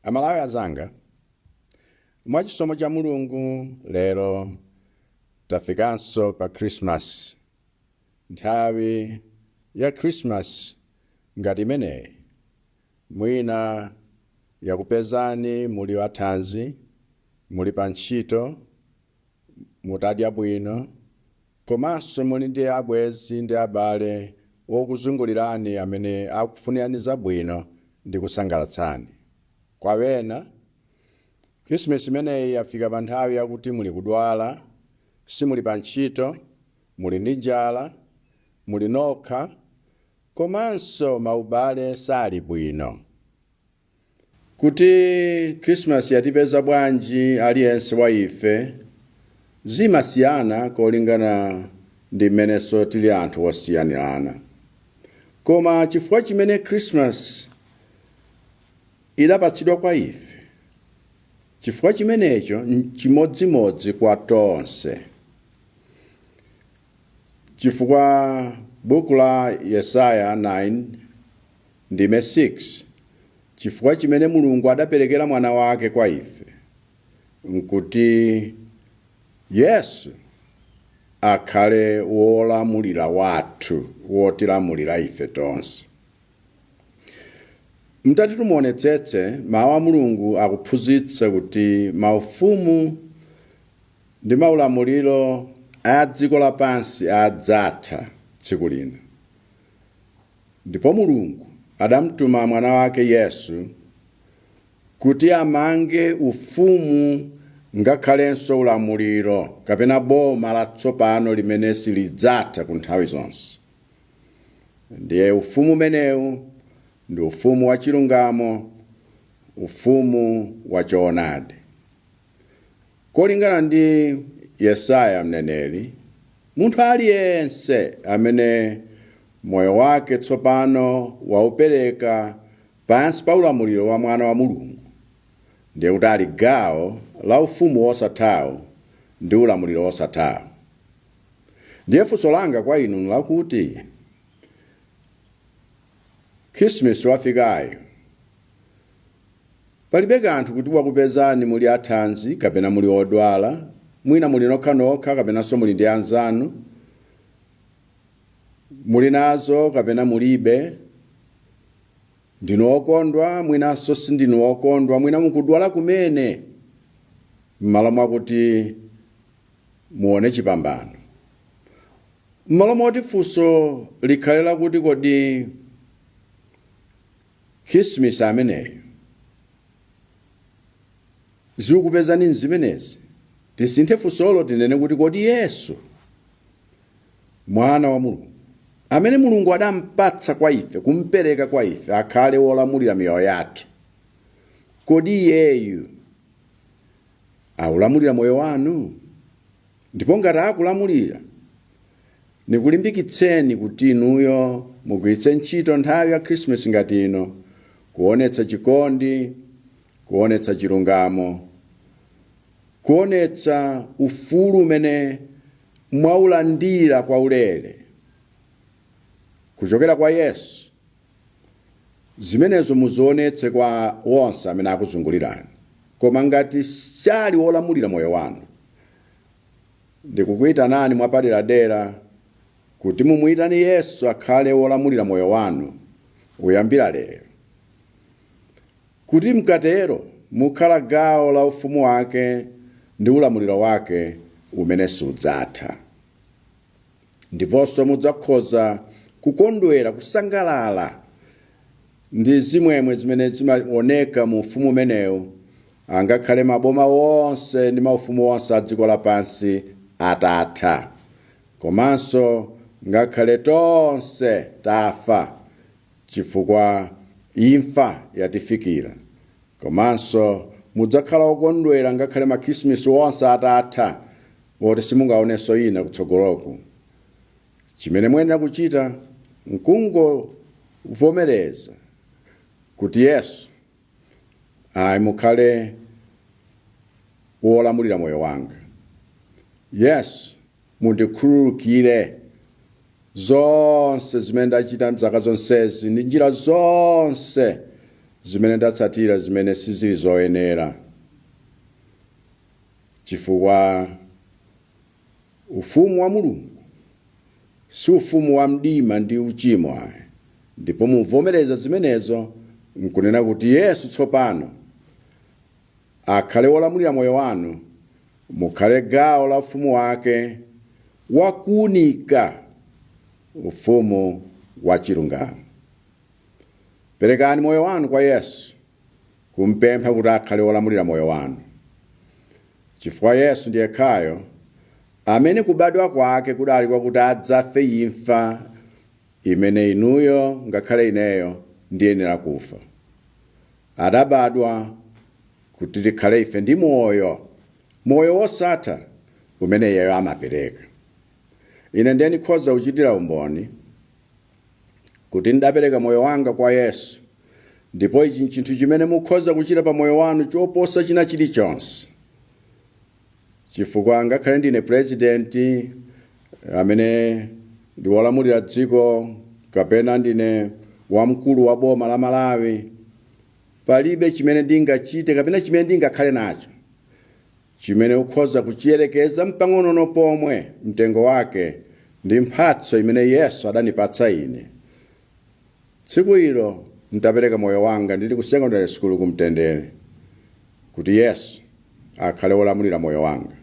Amalawi azanga, mwa chisomo cha Mulungu lero tafikanso pa Christmas. Nthawi ya Christmas ngati imeneyi mwina yakupezani muli a thanzi, muli pa ntchito, mutadya bwino, Komanso muli ndi abwenzi ndi abale okuzungulirani amene akufunirani zabwino ndi kusangalatsani. Kwa ena, Khrisimisi imeneyi yafika pa nthawi yakuti muli kudwala, simuli pa ntchito, muli ndi njala, muli nokha, komanso maubale sali bwino. Kuti Christmas yatipeza bwanji aliyense wa ife zimasiyana kolingana ndi mmenenso tili anthu osiyanirana. Koma chifukwa chimene Christmas idapatsidwa kwa ife, chifukwa chimenecho nchimodzimodzi kwa tonse. Chifukwa buku la Yesaya 9. Ndime 6, Chifukwa chimene Mulungu adaperekera Mwana wake kwa ife nkuti Yesu akhale wolamulira wathu, wotilamulira ife tonse. Mutati tumuonetsetse, Mawu a Mulungu akuphunzitsa kuti maufumu ndi maulamuliro a dziko lapansi adzatha tsiku lina. Ndipo Mulungu adamtuma Mwana wake Yesu kuti amange ufumu ngakhalenso ulamuliro kapena boma latsopano limene silidzatha ku nthawi zonse. Ndiye ufumu umenewu ndi ufumu wachilungamo, ufumu wachoonadi. Kolingana ndi Yesaya mneneri, munthu aliyense amene moyo wake tsopano waupereka pansi pa ulamuliro wa Mwana wa Mulungu ndiye kuti ali gawo la Ufumu wosathawo ndi ulamuliro wosathawo. Ndiye funso langa kwa inu n'lakuti, Khirisimisi wafikayu, Palibe kanthu kuti wakupezani muli athanzi kapena muli odwala, mwina muli nokhanokha kapenanso muli ndi anzanu, muli nazo kapena mulibe, ndinu okondwa mwinanso sindinu okondwa, mwina mukudwala kumene, m'malo mwakuti muone chipambano. M'malo moti funso likhale lakuti kodi Christmas ameneyu zikupezani m'zimenezi. Tisinthe funsolo tinene kuti kodi Yesu, Mwana wa Mulungu, amene Mulungu adampatsa kwa ife, kumpereka kwa ife akhale wolamulira miyoyo yathu, kodi Iyeyu Akulamulira moyo wanu? Ndipo ngati akulamulira, nikulimbikitseni kuti inuyo mugwiritse ntchito nthawi ya Khrisimasi ngati ino kuonetsa chikondi, kuonetsa chilungamo, kuonetsa ufulu umene mwaulandira kwaulere kuchokera kwa Yesu. Zimenezo muzionetse kwa onse amene akuzungulirani. Koma ngati sali wolamulira moyo wanu, ndikukuitanani mwapaderadera kuti mumuitane Yesu akhale wolamulira moyo wanu kuyambira lero. Kuti mkatero mukhala gawo la ufumu wake ndi ulamuliro wake umene sudzatha. Ndiponso mudzakhoza kukondwera, kusangalala ndi zimwemwe zimene zimaoneka mu ufumu umenewu, angakhale maboma onse ndi maufumu onse a dziko lapansi atatha, komanso ngakhale tonse tafa, chifukwa imfa yatifikira. Komanso mudzakhala okondwera ngakhale Makhrisimisi onse atatha, oti simungaonenso ina kutsogoloku. Chimene muyenera kuchita n'kungovomereza kuti, Yesu, ayi, mukhale wolamulira moyo wanga. Yesu, mundikhululukire zonse zimene ndachita m'zaka zonsezi ndi njira zonse zimene ndatsatira zimene sizili zoyenera. chifukwa Ufumu wa Mulungu si ufumu wa mdima ndi uchimo ayi, ndipo muvomereza zimenezo n'kunena kuti Yesu tsopano akhale Wolamulira moyo wanu, mukhale gawo la Ufumu wake wa kuunika, Ufumu wa chilungamo. Perekani moyo wanu kwa Yesu kum'pempha kuti akhale wolamulira moyo wanu, chifukwa Yesu ndi yekhayo amene kubadwa kwake kudali kwakuti adzafe imfa imene inuyo ngakhale ineyo ndiyenera kufa. Adabadwa kuti tikhale ife ndi moyo, moyo wosatha umene iyeyo amapereka. Ine ndiye ndikhoza kuchitira umboni. kuti ndapereka moyo wanga kwa Yesu, ndipo ichi nchinthu chimene mukhoza kuchita pa moyo wanu choposa china chilichonse. Chifukwa ngakhale ndine pulezidenti amene ndi wolamulira dziko kapena ndine wamkulu wa boma la Malawi, palibe chimene ndingachite kapena chimene ndingakhale nacho Chimene ukhoza kuchiyerekeza mpang'onono pomwe mtengo wake ndi mphatso imene Yesu adanipatsa ine tsiku ilo ntapereka moyo wanga ndili ku secondary school ku Mtendere kuti Yesu akhale wolamulira moyo wanga.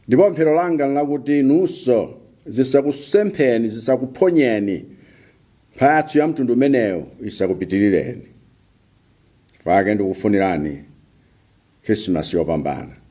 Ndipo pemphero langa nlakuti inunso zisakusempheni, zisakuphonyeni, mphatso ya mtundu umenewu isakupitirireni. Chifukwa chake ndikufunirani Khrisimasi yopambana.